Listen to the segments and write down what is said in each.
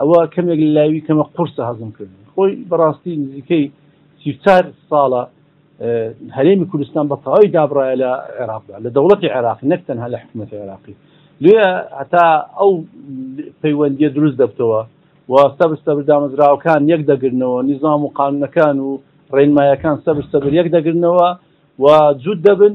ئەوە کەمێک لە لاوی کەمە قورسە هەزم کردنی خۆی بەڕاستی نزیکەی سی و چار ساڵە هەرێمی کوردستان بە تەواوی دابڕایە لە عێراقدا لە دەوڵەتی عێراقی نەک تەنها لە حکوومەتی عێراقی لێ هەتا ئەو پەیوەندیە دروست دەبتەوە و سەبر سەبر دامەزراوەکان یەک دەگرنەوە نیزام و قانونەکان و ڕێنمایەکان سەبر سەبر یەک دەگرنەوە و جوود دەبن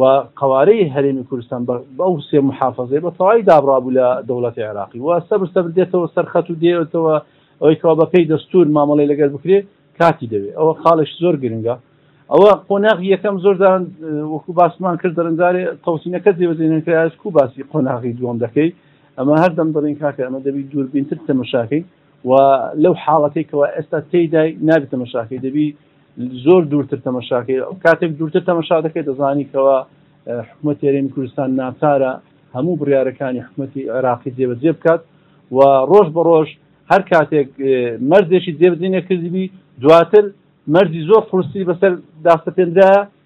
و قەوارەی هەرێمی کوردستان بە ئەو سێ محافەزەی بە تەواوی دابڕابوو لە دەوڵەتی عێراقی و سەبر سەبر دێتەوە سەرخەت و دێتەوە ئەوەی کەوا بەپێی دەستور مامەڵی لەگەر بکرێ کاتی دەوێت ئەوە خاڵش زۆر گرنگە ئەوە قۆناغ یەکەم زۆردان وەکو باسمان کرد دەرندارێ تەوسینەکە جێبەجێنەکراش کو باسی قۆناغی دووەم دەکەی ئەمە هەردەم دەڵین کاکە ئەمە دەبی دووربینتر تەمەشاکەی و لەو حاڵەتەی کەوا ئێستا تێیدای نابێت تەمەشاکەی دەبی زۆر دوورتر تەمەشاکەی کاتێک دوورتر تەمەشا دەکەێت دەزانی کەەوە حکومە تێرێمی کوردستان ناچارە هەموو بڕارەکانی حکومەتی عێراقی جێبەجێ بکات و ڕۆژ بە ڕۆژ هەر کاتێک مەرزێکی جێبجێ نەکردبی دواتر مەرزی زۆر قرسی بەسەر داسەپێنرا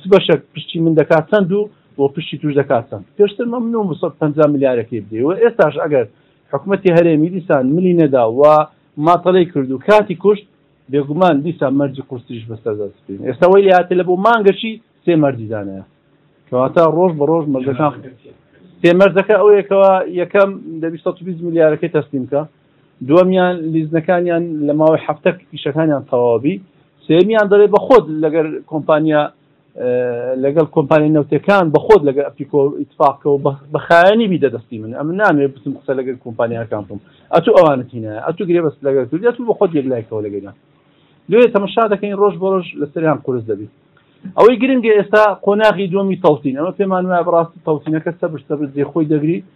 چ بەشێک پشتی من دەکات چەند و بۆ پشتی توش دەکات چەند پێشتر مە من و مسە پ ملیارەکەی بدەی و ئێستاش ئەگەر حکوومەتتی هەرێمی دیسان ملی نەدا و ماتەڵی کرد و کاتی کوشت بێگومان دیسان مەرجی قورسیش بەسەردەستین ئێستا وی لاتێ لە بۆ مانگەشی سێ مەرجی دانەیە کەواتە ڕۆژ بە ڕۆژ مەرجەکان سێ مەرجەکە ئەوەیەکەوە یەکەم دەبی 120 ملیارەکەی تەسلیمکە دووەمیان لیزنەکانیان لە ماوەی هەفتەک ئیشەکانیان تەواو بی سێمیان دەڵێ بە خۆت لەگەر کۆمپانیا لەگەڵ کۆمپانیا نەوتەکان بە خۆت لەگەر ئەپیکۆ ئیتفاقەوە بە خایەنی بیدە دەستی من ئەم نامێ بتم قسە لەگەر کۆمپانیاکان بم ئەتو ئەوانت هینە ئەتو گرێ بەست لەگەر کردی ئەتو بە خۆت یەک لایکەوە لەگەریان لێ تەمەشا دەکەین ڕۆژ بۆ ڕۆژ لەسەریان قورس دەبی ئەوەی گرنگە ئێستا قۆناغی دومی تەوتین ئەمە پێمان وایە بەڕاستی تەوتینەکە سەبر سەبر جێ خۆی دەگری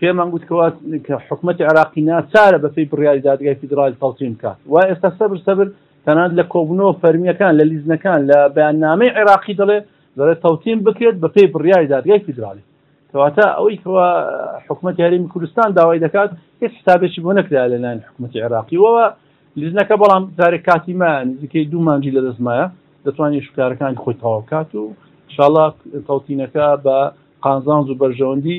پێمان گوتکەوە کە حکومەتی عێراقی ناچارە بەپێی بڕیاری دادگای فیدراڵی تەڵتین بکات وای ئێستا سەبر سەبر تەنانەت لە کۆبوونەوە فەرمییەکان لە لیزنەکان لە بەیاننامەی عێراقی دەڵێ دەڵێت تەوتین بکرێت بەپێی بڕیاری دادگای فیدراڵی کەواتە ئەوەی کەوا حکوومەت یاریمی کوردستان داوای دەکات هیچ حسابێکی بۆ نەکرا لەلایەن حکوومەتی عێراقیەوە لیزنەکە بەڵام جارێک کاتی مایان نزیکەی دوو مانجی لە دەستمایە دەتوانێت شکارەکانی خۆی تەواو بکات و شڵا تەوتینەکە بە قانزانز و بەرژەوەندی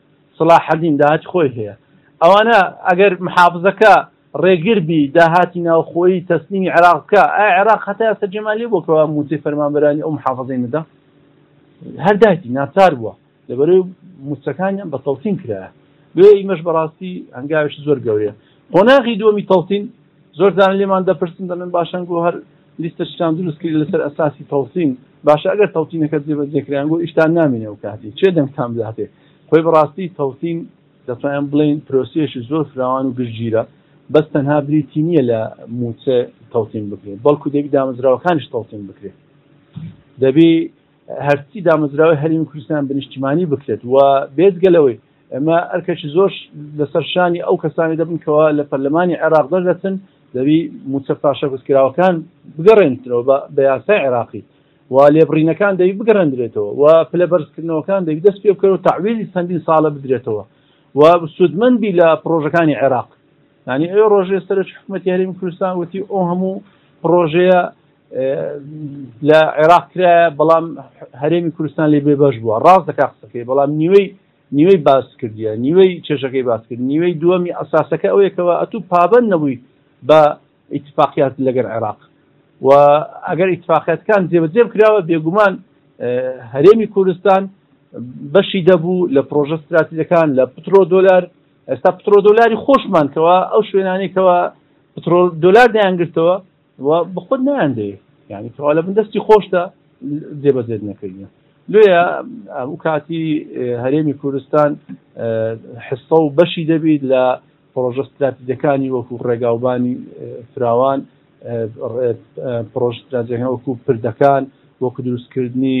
سەڵاحەدین داهاتی خۆی هەیە ئەوانە ئەگەر محافزەکە ڕێگر بی داهاتی ناوخۆیی تەسلیمی عێراق بکە ئایا عێراق هەتا ئێستا جێمان لێ بووە کەوا مووچەی فەرمانبەرانی ئەو محافزەی نەدا هەر دایتی ناچار بووە لەبەرەی مووچەکانیان بە تەڵتین کرایە بۆیە ئیمەش بەڕاستی هەنگاوێکی زۆر گەورەیە قۆناغی دووەمی تەڵتین زۆر جار لێمان دەپرسن دەڵێن باشە ئەنگۆ هەر لیستەشتان دروست کردی لەسەر ئەساسی تەوتین باشە ئەگەر تەوتینەکە جێبەجێ کرایە ئەنگۆ ئیشتان نامێنێ ئەو کاتی چێ دەنگتان بداتێ خۆی بەڕاستی تەوتین دەتوانین بڵێین پرۆسیەشی زۆر فراوان و گشتگیرە بەس تەنها بریتی نییە لە مووچە تەوتین بکرێت بەڵکو دەبی دامەزراوەکانیش تەوتین بکرێت دەبی هەرچی دامەزراوەی هەرمی کوردستان بە نیشتیمانی بکرێت و بێزگە لەوەی ئەمە ئەرکەکی زۆر لەسەر شانی ئەو کەسانی دەبنکەوە لە پەرلەمانی عێراق دەردەچن دەبی موچە پاشەکوتکراوەکان بگەڕێنترەوە بە یاسای عێراقی و لێبڕینەکان دەوی بگەڕێندرێتەوە و پلە بەرزکردنەوەکان دەوی دەست پێ بکەن و تعویلی چەندین ساڵە بدرێتەوە و سوودمەندی لە پرۆژەکانی عێراق ینی ئەو ڕۆژێ سەرش حکوومەتی هەرمی کوردستان وتی ئەو هەموو پرۆژەیە لە عێراق کرایە بەڵام هەرێمی کوردستان لێ بێ بەش بووە ڕاست دەکا قسەکەی بەڵام نیوەی نیوەی باس کردیە نیوەی چێژەکەی باس کرد نیوەی دووەمی ئەساسەکە ئەوەیەکەوە ئەتو پابند نەبووی بە ئیتفاقیات لەگەر عێراق و ئەگەر ئیتفاقەتکان جێبەجێ کراوە بێگومان هەرێمی کوردستان بەشی دەبوو لە پرۆژە استراتیزەکان لە پترۆ دۆلار ئێستا پترۆ دۆلاری خۆشمانکەوە ئەو شوێنانێکەوە پترۆل دۆلار دەیانگرتەوە وە بەخۆت نایان دەێ یعنی تەوا لە بن دەستی خۆشتە جێبەجێت نەکردە لێە ئەو کاتی هەرێمی کوردستان حسە و بەشی دەبیت لە پرۆژە استراتیجەکانی وەکو ڕێگاوبانی فراوان پرۆژ استراتیجەکان وەکو پردەکان وەکو دروستکردنی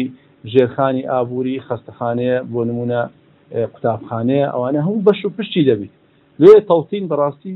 ژێرخانی ئابووری خەستەخانەیە بۆ نمونە قوتابخانەیە ئەوانە هەموو بەش و پشتی دەبیت لێ تەوتین بەڕاستی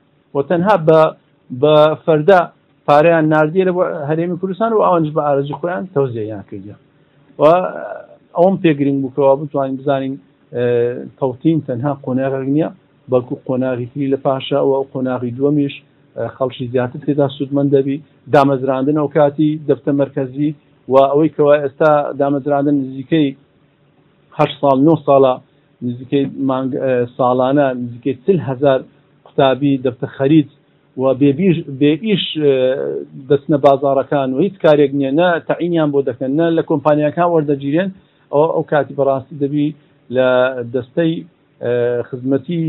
و تەنها بە بە فەردا پارەیان ناردیە لە هەرێمی کوردستان و ئەوانش بە ئارەزی خۆیان تەوزێیان کردیە و ئەوم پێگرنگ بووکەوە بتوانین بزانین تەوتین تەنها قۆناغێک نییە بەڵکو قۆناغی تری لە پاشە و قۆناغی دووەمیش خەڵکی زیاتر تێدا سوودمەند دەبی دامەزراندن ئەو کاتی دەفتە مرکزی و ئەوەی کەوا ئێستا دامەزراندن نزیکەی هەشت ساڵ نۆ ساڵە نزیکەی مانگ ساڵانە نزیکەی چل هەزار قوتابی دەبتە خەریج و بێ بیر بێ ئیش دەچنە بازاڕەکان و هیچ کارێک نییە نە تەعینیان بۆ دەکەن نە لە کۆمپانیاکان وەردەگیرێن ئەوە ئەو کاتی بەڕاستی دەبی لە دەستەی خزمەتی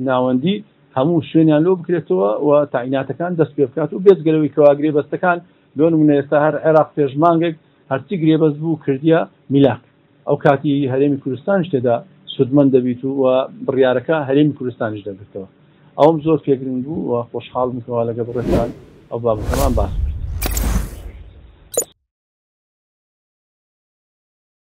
ناوەندی هەموو شوێنیان لۆ بکرێتەوە و تاعیناتەکان دەست پێ بکات و بێجگەلەوەی کەوا گرێبەستەکان لۆ نمونە ئێستا هەر عێراق پێش مانگێک هەرچی گرێبەست بوو کردیە میلاک ئەو کاتی هەرێمی کوردستانیش تێدا سوودمەند دەبیت و وە بڕیارەکە هەرێمی کوردستانیش دەگرتەوە ئەوەم زۆر پێ گرنگ بوو وە خۆشحاڵم کەوا لەگەڵ بڕێزتان ئەو بابەتەمان باس کرد.